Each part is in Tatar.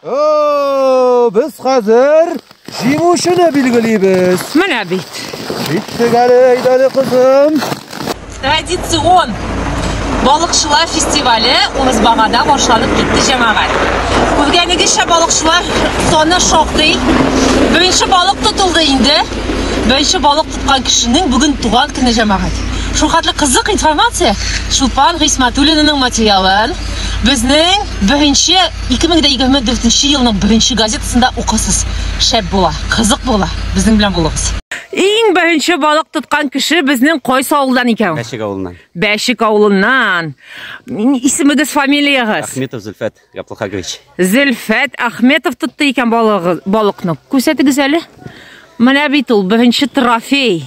О, без хәзер җиңүчене билгелибез. Менә бит. Биттек әле, әйдәле кызым. Традицион балыкчылар фестивале Урысбагада башланып китте җәмәгать. Күргәнегезчә балыкчылар саны шактый. Беренче балык тотылды инде. Беренче балык тоткан кешенең бүген туган көне җәмәгать. Шул хәтле кызык информация Чулпан Гыйсматуллинаның материалын безнең беренче 2024 елның беренче газетасында укырсыз. Шәп була, кызык була. Безнең белән булыгыз. Иң беренче балык тоткан кеше безнең кайсы авылдан икән? Бәшек авылыннан. Бәшек авылыннан. Исемегез, фамилиягез? Ахметов Зөлфәт Габдулхагович. Зөлфәт Ахметов тотты икән балыгы, балыкны. Күрсәтегез әле. Менә бит ул беренче трофей.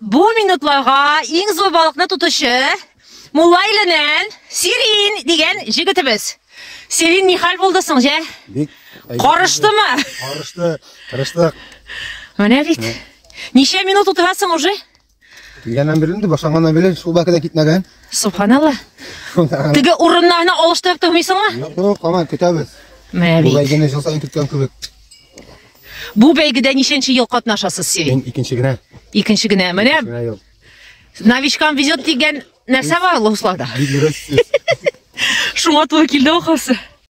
Бу минутларга иң зур балыкны тотучы Мулла иленен Сирин дигән җегетебез. Сирин ни хәл булды соң, җә? Бик Карыштымы? Карышты, тырыштык. Менә бит. Ничә минут утырасың уже? Килгәннән бирле инде башланганнан бирле шул бәке дә китмәгән. Субханалла. Теге урыннарны алыштырып тормыйсыңмы? Юк, юк, һаман көтәбез. Менә Бу бит. бәйгене жыл саен көткән кебек. Бу бәйгедә ничәнче ел катнашасыз сез? Мин икенче генә. Икенче генә. Менә Генә юк. новичкам везет дигән нәрсә бар Луслада. Бик дөрес сүз. Шуңа туры килде ахасы.